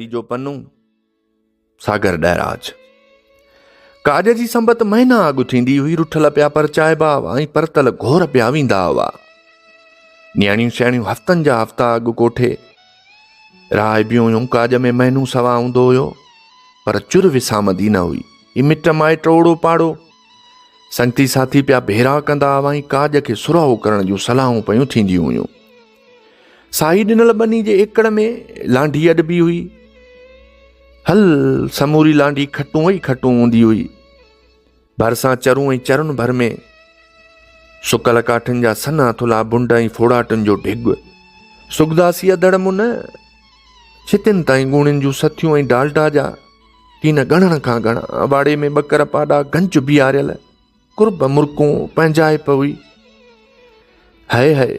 تيجو پنو، ساگر ڏهراج. ڪاڄ جي سنبت مهينا اڳ ٿيندي هئي، رٺل پيا پرچائبا هئا ۽ پرتل گهور پيا ويندا هئا. نياڻيون سياڻيون هفتن جا هفتا اڳ ڪوٺي راهبيون هيون، ڪاڄ ۾ مهينو سوا هوندو هيو، پر چر وسامندي نه هئي. هي مٽ مائٽ اوڙو پاڙو سنگتي ساٿي پيا ڀيرا ڪندا هئا ۽ ڪاڄ کي سرهو ڪرڻ جون صلاحون پيون ٿينديون هيون. ساهي ڏنل ٻني جي ايڪڙ ۾ لانڍي اڏبي هئي. هل سموري لانڍي کٽون ئي کٽون هوندي هئي. ڀرسان چرون ۽ چرن ڀر ۾ سڪل ڪاٺن جا سنا ٿلها بنڊ ۽ ڦوڙاٽن جو ڊگ سگداسي اڌڙ من ڇتين تائين ڳوڻين جون سٿيون ۽ ڊالڊا جا ڪين ڳڻڻ کان ڳڻا واڙي ۾ ٻڪر پاڏا گنج بيهاريل قرب مرڪون پنهنجائپ هئي. هئي هئي.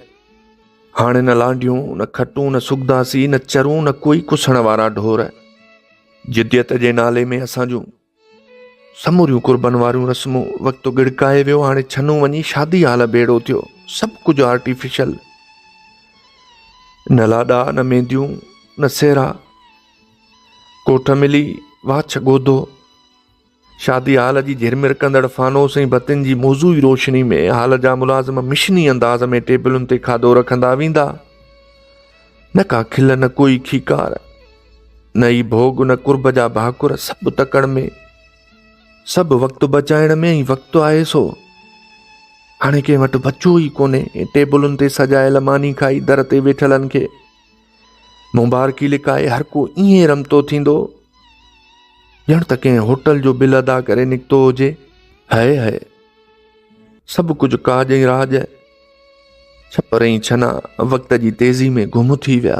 هاڻي نه لانڍيون، نه کٽون، نه سگداسي، نه چرون، نه ڪوئي ڪسڻ وارا ڍور. جديت جي نالي ۾ اسان جون سموريون قربن واريون رسمون وقت ڳڙڪائي ويو هاڻي ڇنو وڃي شادي هال ڀيڙو ٿيو سڀ ڪجهه آرٽيفيشل نه لاڏا نه مينديون نه سيرا ڪوٺ ملي واڇ ڳوڌو شادي هال جي جهرمرڪندڙ فانوس ۽ بتين جي موضوعي روشني ۾ هال جا ملازم مشني انداز ۾ ٽيبلن تي کاڌو رکندا ويندا. نه ڪا کل نه ڪوئي کيڪار، نه ئي ڀوڳ نه قرب جا ڀاڪر سڀ تڪڙ ۾. سڀ وقت بچائڻ ۾ ۽ وقت آهي سو. هاڻي ڪنهن وٽ بچو ئي ڪونهي ٽيبلن تي سجايل ماني کائي در تي ويٺلن کي مبارڪي لڪائي هر ڪو ائين رمتو ٿيندو ڄڻ ته ڪنهن هوٽل جو بل ادا ڪري نڪتو هجي هي هي سڀ ڪجهه ڪاڄ ۽ راڄ ڇپر ۽ ڇنا وقت جي تيزي ۾ گم ٿي ويا